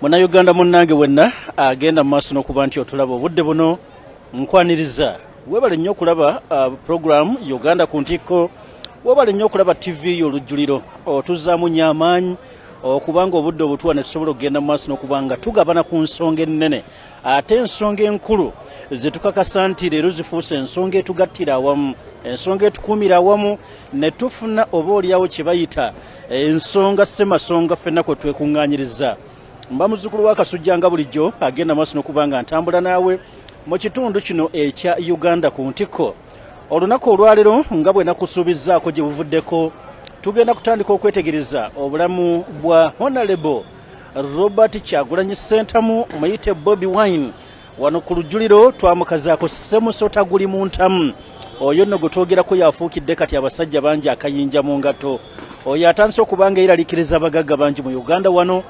munayuganda munnange wenna agenda mu maaso n'okuba nti otulaba obudde buno nkwaniriza webale nnyo okulaba uh, puroguramu uganda ku ntikko webale nnyo okulaba tivi yo olujjuliro otuzaamu nnyo amaanyi okubanga obudde obutuwa ne tusobola okugenda mu maaso n'okuba nga tugabana ku nsonga ennene ate ensonga enkulu zetukakasa nti leero zifuuse ensonga etugattira awamu ensonga etukuumira awamu ne tufuna oba olyawo kye bayita eh, ensonga semasonga ffenna kwe twekuŋŋaanyiriza mba muzzukulu wa kasujja nga bulijjo agenda maaso n'okuba nga ntambula naawe mu kitundu kino ekya uganda ku ntikko olunaku olwaleero nga bwe nakusuubizzaako gye buvuddeko tugenda kutandika okwetegereza obulamu bwa honalebo robert kyagulanyi sentamu muyite bobi wine wano ku lujjuliro twamukazaako semusota guli mu ntamu oyo nno gwe twogerako yafuukidde kati abasajja bangi akayinja mu ngatto oyo atandise okuba nga yeralikiriza abagagga bangi mu uganda wano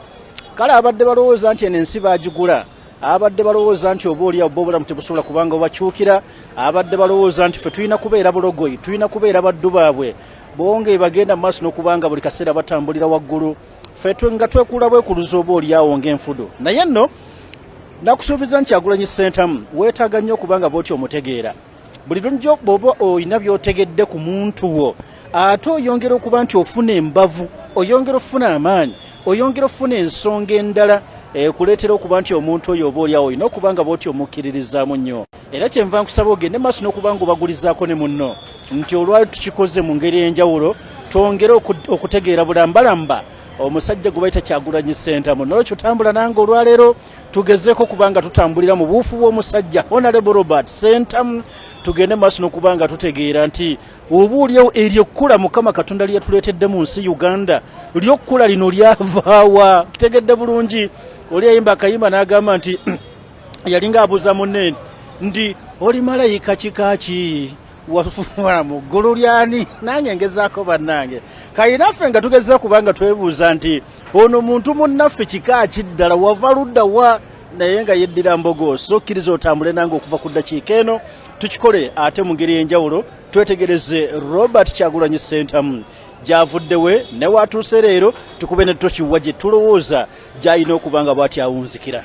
kale abadde balowooza nti eno ensi baagigula abadde balowooza nti oba oliawo ba obulamu tebusobola kubanga obakyukira abadde balowooza nti fe tulina kubeera bulogoyi tulina kubeera baddu baabwe bonge bagenda mu maaso n'okubanga buli kaseera batambulira waggulu fetwe nga twekula bwekuluza oba olyawo ngaenfudo naye nno nakusuubiza nti agulanyi sentamu weetaaga nnyo okubanga bwoti omutegeera buli lunjo bwoba olina byotegedde ku muntu wo ate oyongera okuba nti ofuna embavu oyongera okufuna amaanyi oyongera okufuna ensonga endala ekuleetera eh, okuba nti omuntu oyo oba olyawo olina okuba nga bwoti omukkiririzaamu nnyo era kyenva nkusaba ogende maaso n'okuba nga obagulizaako ne munno nti olwali tukikoze mu ngeri ey'enjawulo twongere okutegeera bulambalamba omusajja gwe bayita kyagulanyi sentamu nolwekyo tambula nange olwaleero tugezeeko kuba nga tutambulira mu buufu bw'omusajja honorable robert sentamu tugende maaso n'okuba nga tutegeera nti oba olyawo eryo ekkula mukama katonda lyeyatuleetedde mu nsi uganda lyokkula lino lyavaawa kitegedde bulungi oli yayimba akayimba n'agamba nti yalinga abuuza munne ndi oli malayika kika ki wafuula mu ggulu lyani nange ngezaako bannange kayinaffe nga tugezeza kubanga twebuuza nti ono muntu munnaffe kika ki ddala wava ludda wa naye nga yeddira mbogo so kkiriza otambule nange okuva ku ddakiika eno tukikole ate mu ngeri enjawulo twetegereze robert kyagulanyi sentamu gyavudde we newatuuse leero tukube ne tokiwa gye tulowooza gy'alina okuba nga bw'atyawunzikira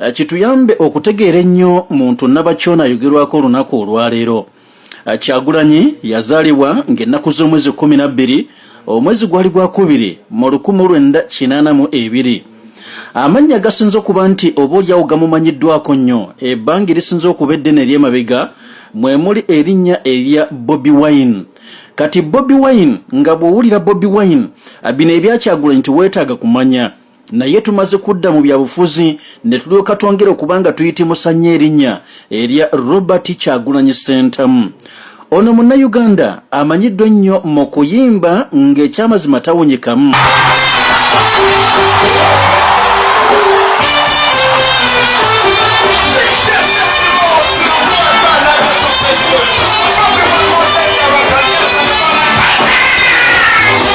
Eh, kituyambe okutegeera ennyo muntu nabakyona ayogerwako olunaku olwaleero eh, kyagulanyi yazaalibwa ng'ennaku z'omwezi 12 omwezi gwali gwa kubiri mu 1982 amannya gasinze okuba nti oba olyawo gamumanyiddwako nnyo ebbanga erisinze okuba eddene ery'emabega mwe muli erinnya erya bobi wine kati bobi wine nga bw'owulira bobi wine eh, bino ebyakyagulanyi tiweetaaga kumanya naye tumaze kudda mu byabufuzi ne tulyoka twongera okuba nga tuyitimusa nnyo erinnya erya robert kyagulanyi sentamu ono munnayuganda amanyiddwa ennyo mu kuyimba ng'ekyamazima tawunyikamu Thank you.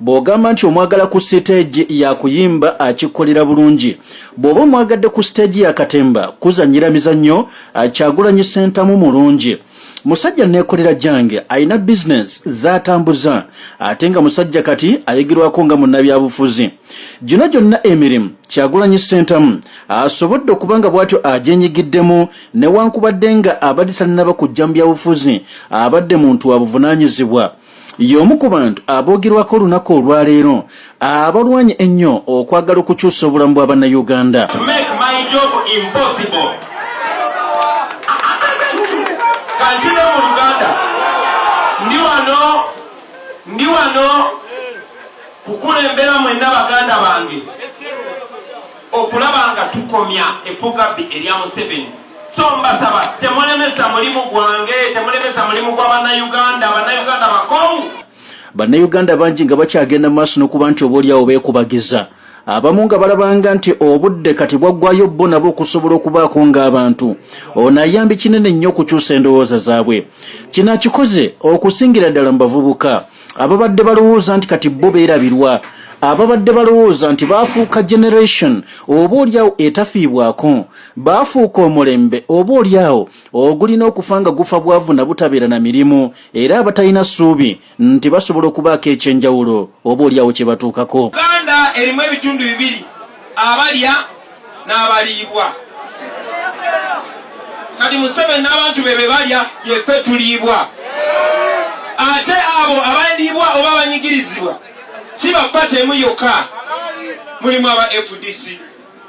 Bw'ogamba nti omwagala ku siteegi ya kuyimba akikkolera bulungi. Bw'oba omwagadde ku siteegi ya katemba kuzannyira mizannyo, Kyagulanyi Ssentamu mulungi. Musajja nneekolera gyange, alina bizinensi z'atambuza ate nga musajja kati ayogerwako nga munnabyabufuzi. Gino gyonna emirimu Kyagulanyi Ssentamu asobodde okuba nga bw'atyo agyenyigiddemu newankubadde nga abadde tannaba kujja mu byabufuzi abadde muntu wa buvunaanyizibwa. y'omu ku bantu aboogerwako olunaku olwaleero abalwanye ennyo okwagala okukyusa obulamu bwa bannayuganda ndi wano kukulembera mwenna baganda bange okulaba nga tukomya efugabbi erya museveni so mbasaba temulemesa mulimu gwange temulemesa mulimu gwa bannayuganda bannayuganda bakowu bannayuganda bangi nga bakyagenda maaso n'okuba nti obaolyawo beekubagiza abamu nga balabanga nti obudde kati bwaggwayo bo nabo okusobola okubaako ng'abantu ono ayambi kinene nnyo okukyusa endowooza zaabwe kino akikoze okusingira ddala mu bavubuka ababadde balowooza nti kati bo beerabirwa ababadde balowooza nti baafuuka generation oba olyawo etafiibwako baafuuka omulembe oba oli awo ogulina okufa nga gufa bwavu na butabeera na mirimu era abatalina ssuubi nti basobola okubaako eky'enjawulo oba oli awo kye batuukako. Uganda erimu ebitundu bibiri, abalya n'abaliibwa. Kati Museveni n'abantu be be balya, yeffe tuliibwa. Ate abo abaliibwa oba abanyigirizibwa si ba ppaty emu yokka, mulimu aba fdc.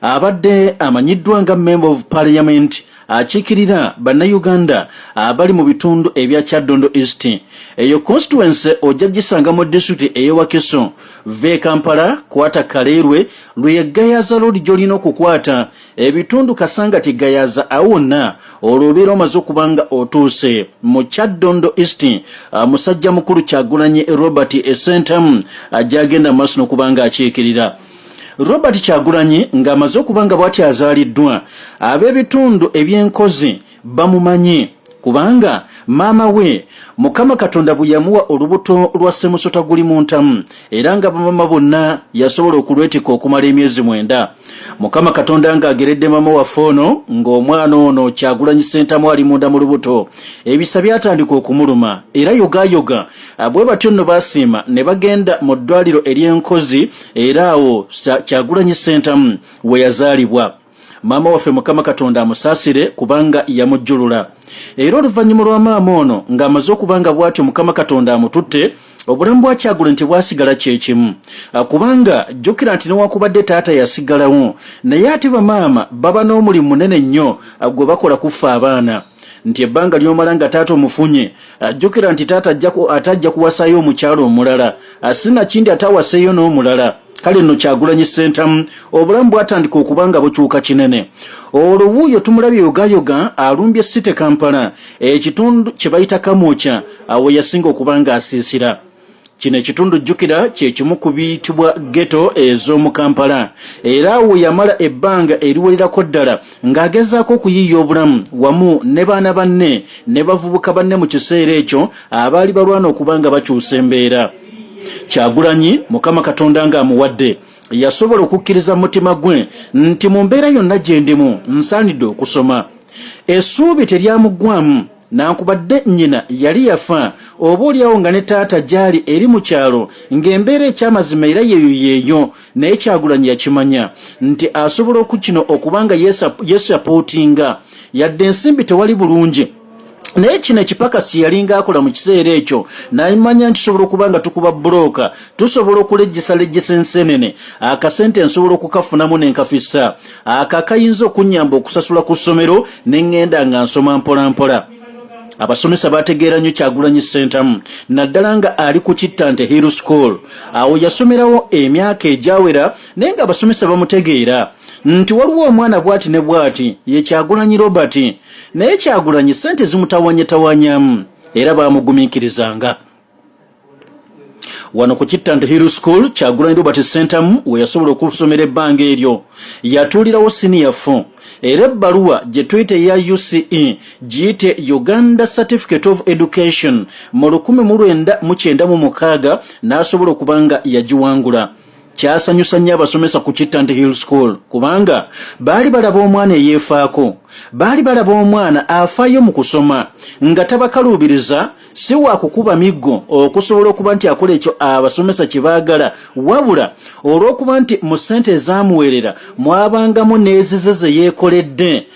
abadde amanyiddwa nga member of parliament akiikirira bannayuganda abali mu bitundu ebya kyaddondo east eyo constituency ojja gisanga mu disitulikiti eyewakiso va e kampala kwata kaleerwe lwe yeggayaza lodi gy'olina okukwata ebitundu kasanga tiggayaza awo wonna olwo obeera omaze okuba nga otuuse mu kyaddondo east musajja mukulu kyagulanyi robert esentamu ajagenda mu maaso n'okuba nga akiikirira Robert Kyagulanyi ng'amaze okuba nga bwati azaaliddwa ab'ebitundu eby'enkozi bamumanyi kubanga maama we mukama katonda bwe yamuwa olubuto lwa semusota guli mu ntamu era nga bamama bonna yasobola okulwetikka okumala emyezi mwenda mukama katonda ng'ageredde maama waffe ono ng'omwana ono kyagulanyi sentamu ali munda mu lubuto ebisa byatandika okumuluma era yogayoga bwe batyo nno basiima ne bagenda mu ddwaliro ery'enkozi era awo kyagulanyi sentamu weyazaalibwa maama waffe mukama katonda amusaasire kubanga yamujjulula era oluvannyuma lwa maama ono ng'amaze okuba nga bw'atyo mukama katonda amututte obulamu bwa kyagula nti bwasigala kyekimu ah, kubanga jjukira nti newakubadde taata yasigalawo naye ate bamaama baba n'omulimu munene nnyo ah, gwe bakola kuffa abaana nti ebbanga ly'omala nga taata omufunye ajjukira nti taata ate ajja kuwasayo omukyalo omulala asinakindi ate awaseeyo n'omulala kale nno kyagulanyi sentamu obulamu bwatandika okuba nga bukyuka kinene olwo wuuyo tumulabye yogayoga alumbye site kampala ekitundu kye bayita kamwokya awo yasinga okuba nga asiisira kino ekitundu jjukira kye kimu ku biyitibwa geto ez'omu kampala era awo yamala ebbanga eriwererako ddala ng'agezaako okuyiiya obulamu wamu ne baana banne ne bavubuka banne mu kiseera ekyo abaali balwana okuba nga bakyusa embeera kyagulanyi mukama katonda ng'amuwadde yasobola okukkiriza mu mutima gwe nti mu mbeera yonna gye ndimu nsaanidde okusoma essuubi teryamuggwamu nankubadde nnyina yali yafa oba olyawo nga ne taata gyali eri mu kyalo ng'embeera ekyamazima era yeeyo yeeyo naye kyagulanyi yakimanya nti asobola okukino okuba nga yesapootinga yadde ensimbi tewali bulungi naye kino ekipakasi yalinga akola mu kiseera ekyo namanya nkisobola okuba nga tukuba bulooka tusobola okulejjesalejjesa ensenene akasente nsobola okukafunamu nenkafisa ako akayinza okunnyamba okusasula ku ssomero ne ŋŋenda nga nsoma mpolampola abasomesa bategeera nnyo kyagulanyi ssentamu naddala nga ali ku kittante hill school awo yasomerawo emyaka egyawera naye nga abasomesa bamutegeera nti waliwo omwana bwati ne bwati ye kyagulanyi robert naye kyagulanyi ssente zimutawanyatanwanyamu era baamugumiikirizanga wano ku kittante hill school kyagulanyi robert sentamu we yasobola okusomera ebbanga eryo yatuulirawo siniya fo era ebbaluwa gye tuyita eya uce giyite uganda certificate of education mu 1996 n'asobola okuba nga yagiwangula kyasanyusa nnyo abasomesa ku kittante hill school kubanga baali balaba omwana eyeefaako baali balaba omwana afaayo mu kusoma nga tabakaluubiriza si wa kukuba miggo okusobola okuba nti akola ekyo abasomesa kye baagala wabula olw'okuba nti mu ssente ezaamuweerera mwabangamu n'ezize ze yeekoledde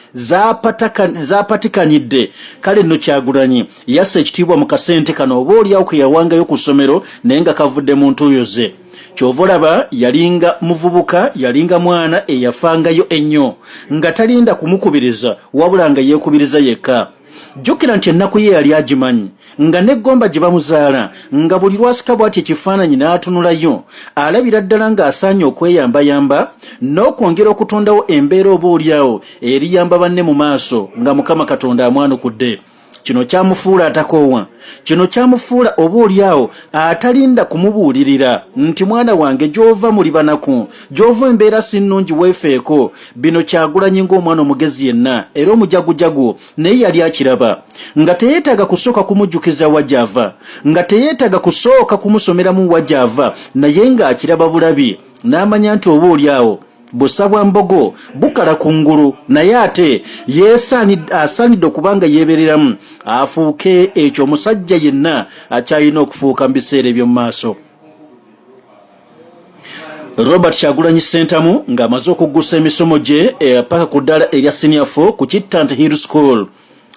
zaapatikanidde kale nno kyagulanyi yassa ekitiibwa mu kasente kano oba olyawo ke yawangayo ku ssomero naye nga kavudde mu ntuuyo ze kyova olaba yalinga muvubuka yalinga mwana eyafangayo ennyo nga talinda kumukubiriza wabula nga yeekubiriza yekka jjukira nti ennaku ye yali agimanyi nga n'eggomba gye bamuzaala nga buli lwasika bw'ati ekifaananyi n'atunulayo alabira ddala ng'asaanye okweyambayamba n'okwongera okutondawo embeera oba olyawo eriyamba banne mu maaso nga mukama katonda amwanukudde kino kyamufuula atakoowa kino kyamufuula oba olyawo atalinda kumubuulirira nti mwana wange gy'ova muli banaku gyova embeera sinnungi weefeeko bino kyagulanyi ng'omwana omugezi yenna era omujagujagu naye yali akiraba nga teyeetaaga kusooka kumujjukiza wa gy'ava nga teyeetaaga kusooka kumusomeramu wa gy'ava naye ng'akiraba bulabi n'amanya nti oba oli awo busa bwa mbogo bukala ku ngulu naye ate asaanidde okuba nga yeebereramu afuuke ekyo omusajja yenna akyalina okufuuka mu biseera eby'omu maaso Robert Kyagulanyi Ssentamu ng'amaze okuggusa emisomo gye eh, paka ku ddaala erya senior fo ku Kittant Hill School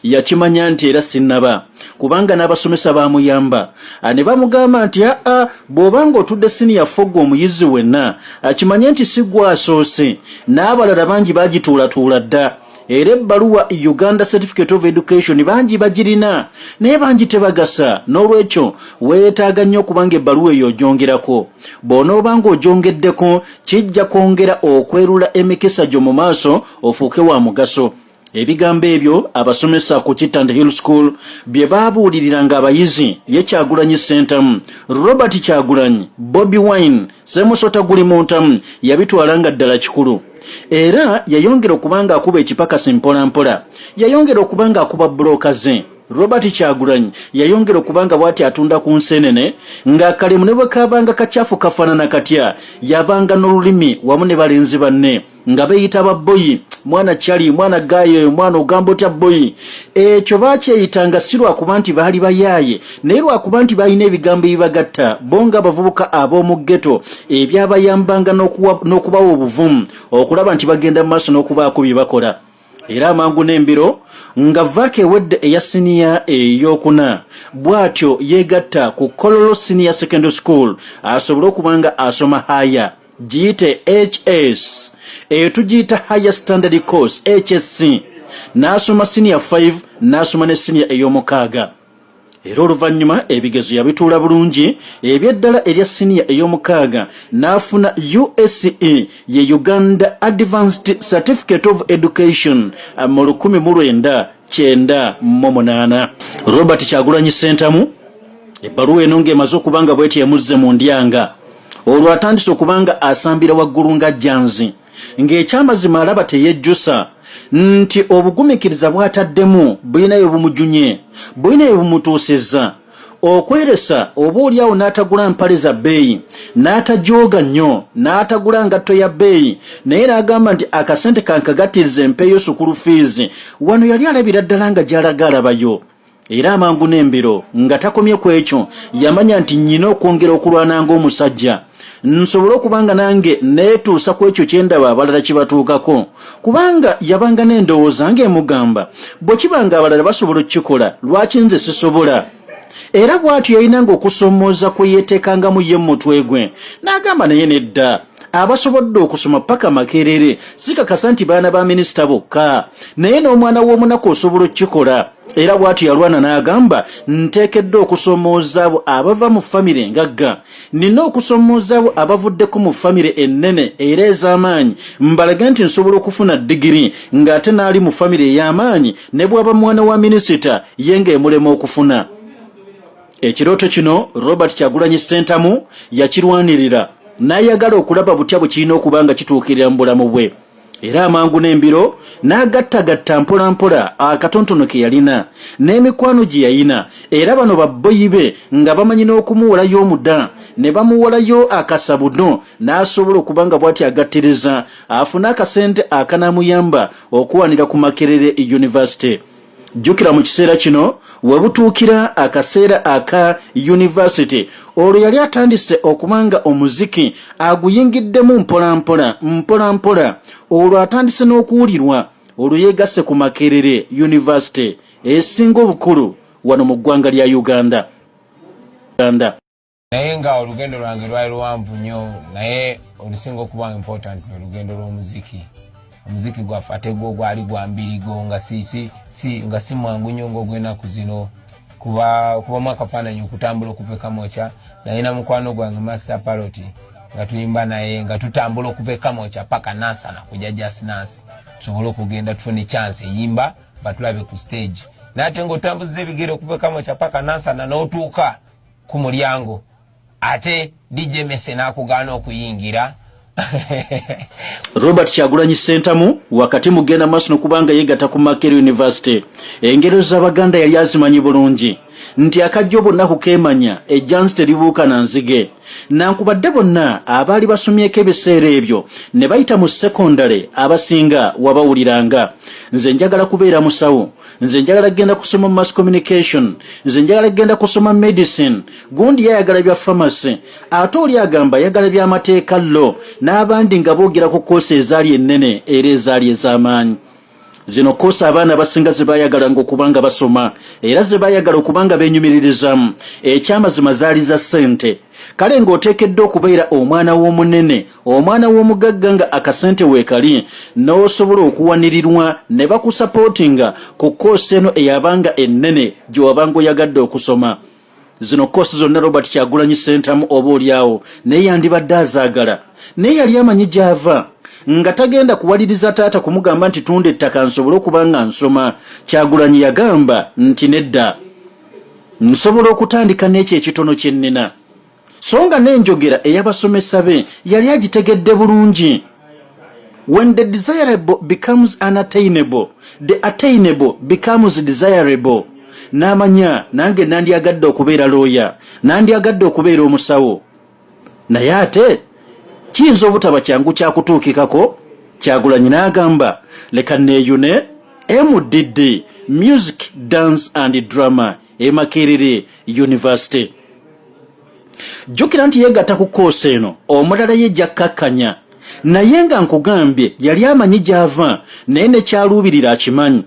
yakimanya nti era sinnaba kubanga n'abasomesa baamuyamba ah, ne bamugamba nti aa ah, ah, bw'oba ng'otudde siniya fogga omuyizi wenna akimanye nti si gwasoose n'abalala bangi bagituulatuula dda era ebbaluwa uganda certificate of education bangi bagirina naye bangi tebagasa n'olwekyo weetaaga nnyo okubanga ebbaluwa eyo ogyongerako bw'onooba nga ogyongeddeko kijja kwongera okwerula emikisa gyo mu maaso ofuuke wa mugaso ebigambo ebyo abasomesa ku kitand hill school bye baabuulirira ng'abayizi ye kyagulanyi sentamu robert kyagulanyi bobi wine semusota guli muntamu yabitwala nga ddala kikulu era yayongera okuba ng'akuba ekipakasi mpolampola yayongera okuba ng'akuba bulooka ze robert kyagulanyi yayongera okuba nga bwati atunda ku nsenene ng'akalimu ne bwe kaabanga kacaafu kafaanana katya yabanga n'olulimi wamu ne balenzi banne nga beeyita babboyi mwana cali mwana gaayi oyo mwana ogamba otya bboyi ekyo baakyeyitanga si lwakuba nti baali bayaaye naye lwakuba nti balina ebigambo ebibagatta bo nga abavubuka ab'omu ggeto ebyabayambanga n'okubawa obuvumu okulaba nti bagenda mu maaso n'okubaako bye bakola era amangu n'embiro nga vaaka ewedde eya siniya eyokuna bw'atyo yeegatta ku kololo siniya secondary school asobole okuba nga asoma haya giyite hs eyo tugiyita higher standard course hsc n'asoma siniya 5 n'asoma ne siniya ey'omukaaga era oluvannyuma ebigezo yabituula bulungi ebyeddala erya siniya ey'omukaaga n'afuna use ye uganda advanced certificate of education eh, mu 1998 robert kyagulanyi sentamu ebbaluwa eno ng'emaze okuba nga bwetyo emuzze mu ndyanga olwo atandise okuba nga asambira waggulu nga janzi ng'ekyamazima alaba teyejjusa nti obugumikiriza bw'ataddemu bulinayo bumujunye bulinayo bumutuusizza okweresa oba oli awo n'atagula mpale za bbeeyi n'atajooga nnyo n'atagula ngatto ya bbeeyi naye n'agamba nti akasente kankagattiriza empeeyo sukulu fiizi wano yali alabira ddala nga gy'alaga alabayo era amangu n'embiro nga takomye ku ekyo yamanya nti nnyina okwongera okulwana ng'omusajja nsobole okuba nga nange neetuusa ku ekyo kye ndaba abalala kibatuukako kubanga yabanga n'endowooza ng'emugamba bwe kiba nga abalala basobola okukikola lwaki nze sisobola era bw'atyo yalinanga okusoomooza kwe yeeteekangamu ye mu mutwe gwe n'agamba naye nedda abasobodde okusoma paka makerere sikakasa nti baana ba minisita bokka naye n'omwana w'omunaku osobola okukikola era bw'atyo yalwana n'agamba nteekeddwa okusomooza abo abava mu famire engagga nina okusomooza abo abavuddeko mu famire ennene era ez'amaanyi mbalage nti nsobola okufuna digiri ng'ate n'ali mu famire ey'amaanyi ne bw'aba mwana wa minisita ye ng'emulema okufuna ekirooto kino robert kyagulanyi ssentamu yakirwanirira n'ayagala okulaba butya bwe kirina okuba nga kituukirira mu bulamu bwe era amangu n'embiro n'agattagatta mpolampola akatontono ke yalina n'emikwano gye yayina era bano babboyi be nga bamanyi n'okumuwolayo omuda ne bamuwolayo akasabudo n'asobola okuba nga bw'ati agattiriza afune akasente akanamuyamba okuwanira ku makerere yunivasite jjukira mu kiseera kino we butuukira akaseera aka yunivasite olwo yali atandise okuba nga omuziki aguyingiddemu mpolampola mpolampola olwo atandise n'okuwulirwa olwo yeegasse ku makerere yunivasite esinga obukulu wano mu ggwanga lya uganda naye nga olugendo lwange lwali luwanvu nnyo naye olusinga okuba important lwe lugendo lw'omuziki omuziki gwaffe ate gwo gwali gwa mbirigo nga nga si mwangu nnyo ngaogwenaku zino kuba kubamu akafaananyi okutambula okuva ekamokya naye na mukwano gwange master paloti nga tuyimba naye nga tutambula okuva ekamokya paka nansana kuja jasnansi tusobole okugenda tufune chance eyimba batulabe ku stage naye ate ngaotambuza ebigere okuva ekamokya paka nansana n'otuuka no ku mulyango ate DJ Mese n'akugaana okuyingira Robert Kyagulanyi Sentamu wakati mugenda maaso nokubanga yegata ku Makerere University engero z'Abaganda yali azimanyi bulungi nti akajja obunaku keemanya ejjansi teribuuka na nzige nankubadde bonna abaali basomyeko ebiseera ebyo ne bayita mu sekondale abasinga wabawuliranga nze njagala kubeera musawo nze njagala kugenda kusoma mass communication nze njagala kugenda kusoma medicine gundi yayagala bya pharmacy ate oli agamba yagala byamateeka lo n'abandi nga boogera ku koosi ezaali ennene era ezaali ez'amaanyi zino koosi abaana abasinga ze baayagala nga okuba nga basoma era ze baayagala okuba nga benyumiririzaamu ekyamazima zaali za ssente kale ng'oteekeddwa okubeera omwana w'omunene omwana w'omugagga nga akasente weekali n'osobola okuwanirirwa ne bakusapootinga ku koosi eno eyabanga ennene gye wabanga oyagadde okusoma zino koosi zonna robert kyagulanyi sentamu oba olyawo naye yandibadde azaagala naye yali amanyi gy'ava nga tagenda kuwaliriza taata kumugamba nti tunda ettaka nsobole okuba nga nsoma kyagulanyi yagamba nti nedda nsobola okutandika n'ekyo ekitono kye nnina so nga n'enjogera ey'abasomesa be yali agitegedde bulungi when the desirable becomes unattainable the attainable becomes desirable n'amanya nange nandyagadde okubeera looya nandyagadde okubeera omusawo naye ate kiyinza obutaba kyangu kyakutuukikako kyagulanyi n'agamba leka neeyune mdd music dance and drama e makerere university jjukira nti yeegatta ku koosi eno omulala ye jakkakkanya naye nga nkugambye yali amanyi gy'ava naye ne kyaluubirira akimanyi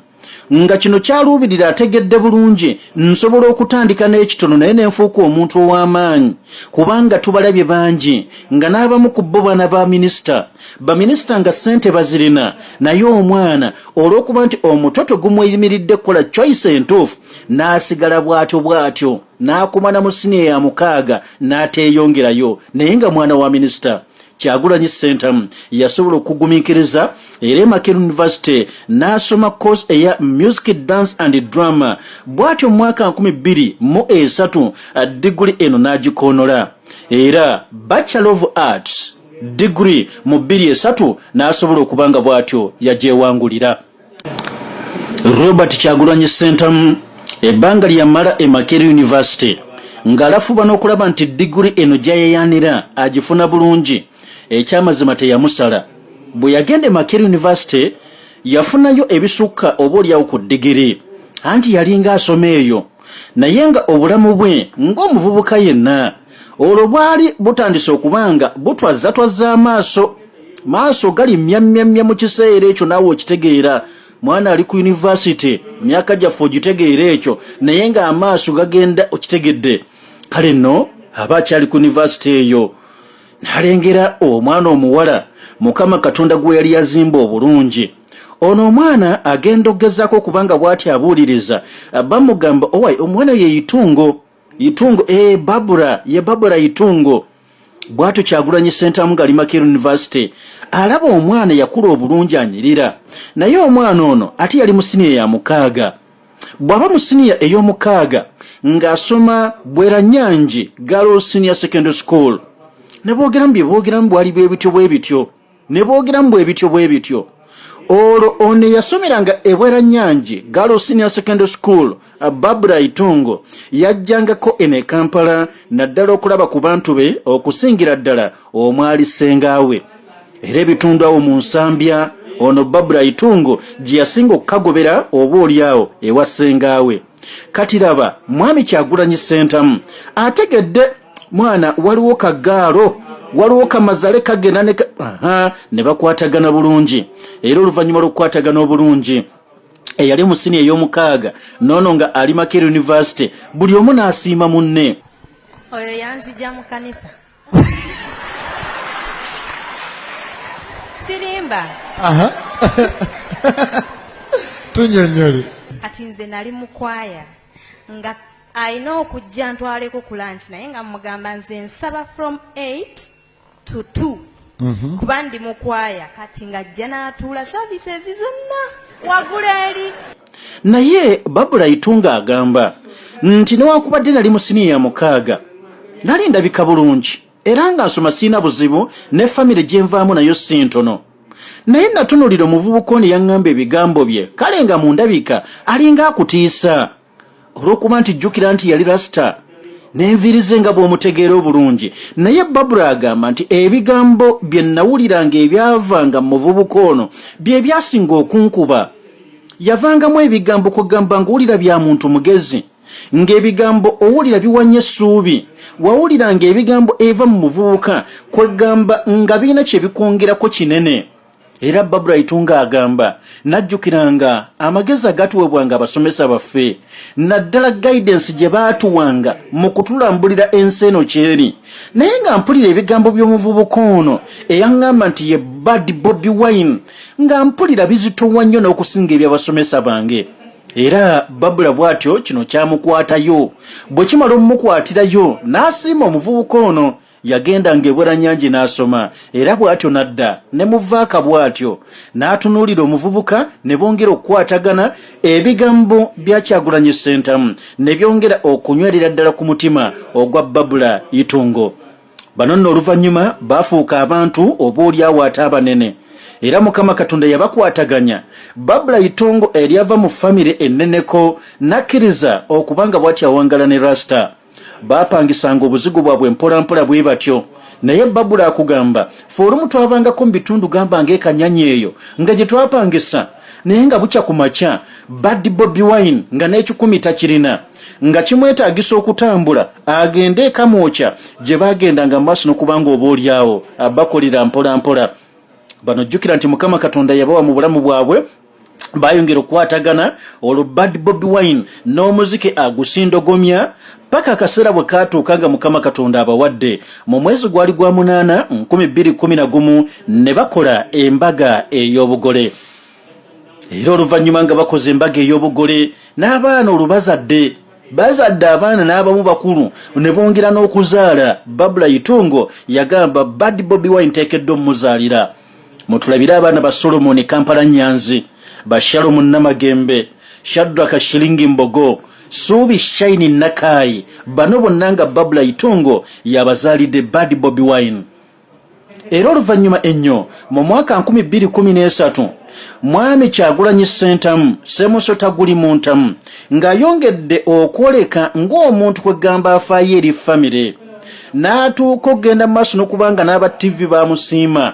nga kino kyaluubirira ategedde bulungi nsobola okutandika n'ekitono naye ne nfuuka omuntu ow'amaanyi kubanga tubalabye bangi nga n'abamu ku bo baana ba minisita baminisita nga ssente bazirina naye omwana olw'okuba nti omutwe tegumweyimiridde kukola choice entuufu n'asigala bw'atyo bw'atyo n'akoma na mu siniya ya mukaaga n'ateeyongerayo naye nga mwana wa minisita kyagulanyi sentamu yasobola okugumiikiriza era emaker university n'asoma course eya music dance and drama bw'atyo mu mwaka 23 diguli eno n'agikoonola era bachelor of arts diguli mu 23 n'asobola okuba nga bw'atyo yagyewangulira Robert Kyagulanyi Ssentamu ebbanga lyamala e Makerere University ng'alafuba n'okulaba nti diguli eno gyayayaanira agifuna bulungi ekyamazima teyamusala bwe yagenda e Makerere University yafunayo ebisukka oba olyawo ku digiri anti yalinga asoma eyo naye nga obulamu bwe ng'omuvubuka yenna olwo bwali butandise okuba nga butwazzatwazza amaaso maaso gali myamyamya mu kiseera ekyo naawe okitegeera mwana ali ku yunivasite myaka gyaffe ogitegeera ekyo naye ng'amaaso gagenda okitegedde kale nno aba akyali ku yunivasite eyo nalengera omwana omuwala mukama katonda gwe yali yazimba obulungi ono omwana agenda okugezaako okubanga bw'ati abuuliriza bamugamba owaye omwana yeyitungo Itungo eh, Barbara ye Barbara Itungo bwatyo kyagulanyi sentamu nga limakir university alaba omwana yakula obulungi anyirira naye omwana ono ate yali musiniya ya mukaaga bwaba musiniya ey'omukaaga ng'asoma bwera nyangi galo senior secondary school ne boogeramu bye boogeramu bwali bwe bityo bwe bityo ne boogeramu bwe bityo bwe bityo olwo ono eyasomeranga ebwera nyangi galo senior secondary school uh, babra itungo yajjangako eno e kampala naddala okulaba ku bantu be okusingira ddala omwali ssengaawe era ebitundu awo mu nsambya ono babra itungo gye yasinga okukagobera oba olyawo ewa ssengaawe kati laba mwami kyagulanyi ssentamu ategedde mwana waliwo kagaalo waliwo kamazale kagenda ne ne bakwatagana bulungi era oluvannyuma lw'okukwatagana obulungi eyali mu sini ey'omukaaga noono nga ali maker university buli omu n'asiima munne oyo yanzija mu kanisa sirimba tunyonyole kati nze nali mukwaya nga Alina okujja ntwaleko ku lunch naye nga mugamba nze nsaba from 8 to 2 mhm. kuba ndi mukwaya kati nga ajja n'atuula services zonna wagula eri naye babula itunga agamba nti newakubadde nali mu siniya ya mukaaga nali ndabika bulungi era nga nsoma sirina buzibu ne famire gye nvaamu nayo si ntono naye natunulira omuvubuka ono yaŋŋamba ebigambo bye kale nga mu ndabika alinga akutiisa olw'okuba nti jjukira nti yali rasita n'enviiri ze nga bw'omutegeera obulungi naye babura agamba nti ebigambo bye nnawuliranga ebyavanga mu muvubuka ono bye byasinga okunkuba yavangamu ebigambo kugamba ng'owulira bya muntu mugezi ng'ebigambo owulira biwanye essuubi wawuliranga ebigambo eva mu muvubuka kwegamba nga birina kye bikwongerako kinene era babula itunga agamba najjukiranga amagezi agatuwebwanga abasomesa baffe naddala guidance gye baatuwanga mu kutulambulira ensi eno kyeri naye nga mpulira ebigambo by'omuvubuka ono eyaŋŋamba nti ye bad bobi wine nga mpulira bizitowa nnyo n'okusinga eby'abasomesa bange era babula bw'atyo kino kyamukwatayo bwe kimala omumukwatirayo n'asiima omuvubuka ono yagendanga ebweranyangi n'asoma era bw'atyo n'adda ne muvaaka bw'atyo n'atunuulira omuvubuka ne bongera okukwatagana ebigambo bya kyagulanyi ssentamu ne byongera okunywerera ddala ku mutima ogwa babula itungo bano nno oluvannyuma baafuuka abantu oba olyawo ate abanene era mukama katonda yabakwataganya babula itongo eryava mu famire enneneko n'akkiriza okubanga bw'atyo awangala ne rasita baapangisanga obuzigo bwabwe mpolampola bwe batyo naye babula akugamba fe olumu twabangako mu bitundu gamba ngaekanyanya eyo nga gye twapangisa naye nga bukya ku makya badi bobi wine nga n'ekikumi takirina nga kimwetaagisa okutambula agende ekamwokya gye baagendanga mu maaso nokubanga oba olyawo abakolera mpolampola bano jjukira nti mukama katonda yabawa mu bulamu bwabwe bayongera okukwatagana olwo bad bobi wine n'omuzike agusindogomya paka akaseera bwe kaatuuka nga mukama katonda abawadde mu mwezi gwali gwa munaana 211 ne bakola embaga ey'obugole era oluvannyuma nga bakoze embaga ey'obugole n'abaana olubazadde bazadde abaana n'abamu bakulu ne bongera n'okuzaala babula itungo yagamba bad bobi wine teekeddwa omumuzaalira mutulabire abaana ba solomoni kampala nyanzi ba shalomu namagembe shadraka shilingi mbogo suubi shaini nakaayi bano bonna nga babula itungo yabazaalidde bad bobi wine era oluvannyuma ennyo mu mwaka 213 mwami kyagulanyi sentamu semusota guli mu ntamu ng'ayongedde okwoleka ng'omuntu kwegamba afaayo eri famire n'atuuka okugenda mu maaso n'okubanga n'aba ttivi baamusiima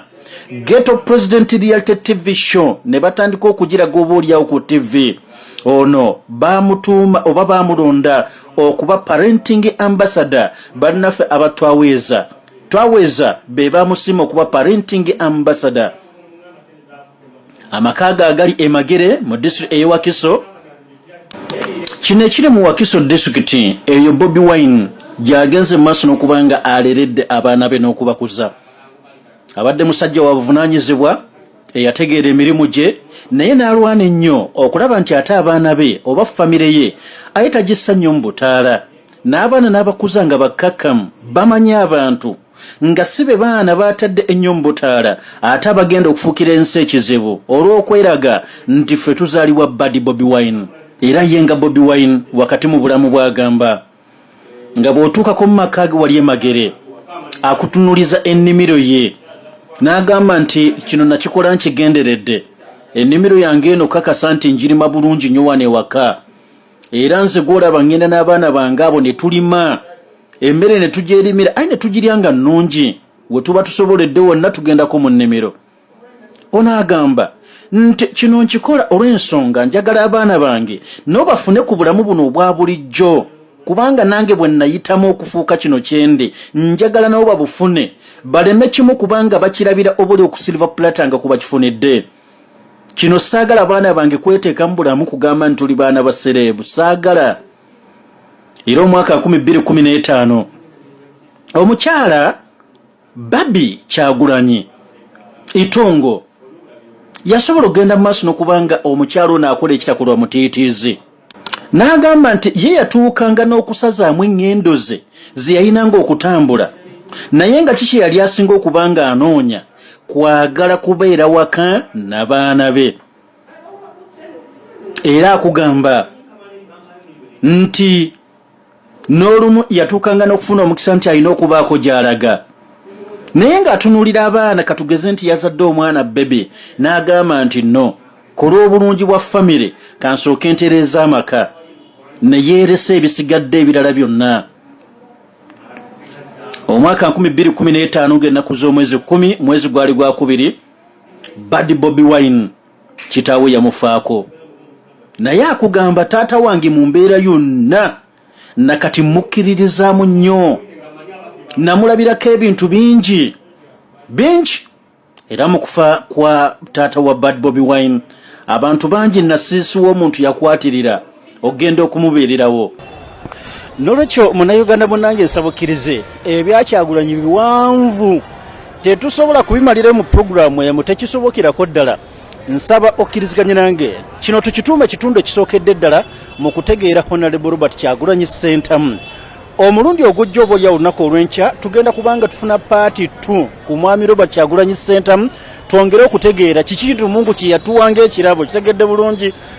geto president reality tv show ne batandika okugiraga oba olyawo ku tv ono bamutuuma oba bamulonda okuba parenting ambassador bannaffe abatwaweeza twaweeza be bamusiima okuba parenting ambassador amaka ge agali e Magere mu disitulikiti ey'e Wakiso. Kino ekiri mu Wakiso disitulikiti eyo Bobi Wine gy'agenze mu maaso n'okuba nga aleredde abaana be n'okubakuza. Abadde musajja wa buvunaanyizibwa eyategeera emirimu gye naye n'alwana ennyo okulaba nti ate abaana be oba famire ye aye tagissa nnyo mu butaala n'abaana n'abakuza nga bakkakkamu bamanyi abantu. nga si be baana baatadde ennyo mu butaala ate abagenda okufuukira ensi ekizibu olw'okweraga nti ffe tuzaalibwa badi bobi wine era ye nga bobi wine wakati mu bulamu bw'agamba nga bw'otuukako mu maka ge wali emagere akutunuliza ennimiro ye n'agamba nti kino nakikola nkigenderedde ennimiro yange eno kakasa nti njirima bulungi nnyo wano ewaka era nze gwolaba ŋŋenda n'abaana bange abo ne tulima emmere ne tugyerimira aye ne tugirya nga nnungi we tuba tusoboledde wonna tugendako mu nnimiro ono agamba nti kino nkikola olw'ensonga njagala abaana bange nabo bafune ku bulamu buno obwa bulijjo kubanga nange bwe nnayitamu okufuuka kino kyendi njagala nabo babufune baleme kimu kubanga bakirabira obuli okusilva pulatanga ku bakifunidde kino saagala baana bange kweteeka mu bulamu kugamba nti tuli baana ba sereebu saagala era omwaka 215 omukyala babi kyagulanyi itongo yasobola okugenda mu maaso nokubanga omukyala ono akola ekitakolwa mutiitiizi N'agamba nti ye yatuukanga n'okusazaamu eŋŋendo ze ze yalinanga okutambula naye nga ki kye yali asinga okuba ng'anoonya kwagala kubeera waka na baana be. Era akugamba nti. n'olumu yatuukanga n'okufuna omukisa nti alina okubaako gy'alaga naye ng'atunuulira abaana katugeze nti yazadde omwana bebe n'agamba nti no ku lw'obulungi bwa famire kansooke ntereeza amaka ne yeeresa ebisigadde ebirala byonna omwaka 215 ng'ennaku z'omwezi 1 mwezi gwali gwakubiri badi bobi wine Kitaawe yamufaako naye akugamba taata wange mu mbeera yonna na kati mmukkiririzaamu nnyo namulabirako ebintu bingi bingi era mu kufa kwa taata wa bad bobi wine abantu bangi nasiisiwa omuntu yakwatirira ogenda okumubeererawo nolwekyo munayuganda munange nsabukirize ebyakyagulanyi biwanvu tetusobola kubimalira mu puroguramu emu tekisobokerako ddala nsaba okkiriziganye nange kino tukituuma kitundu ekisookedde ddala mu kutegeera honalebo robert kyagulanyi sentamu omulundi ogujja oba olya olunaku olwenkya tugenda kubanga tufuna paati t ku mwami robert kyagulanyi sentamu twongere okutegeera kiki lumungu kyeyatuwanga ekirabo kitegedde bulungi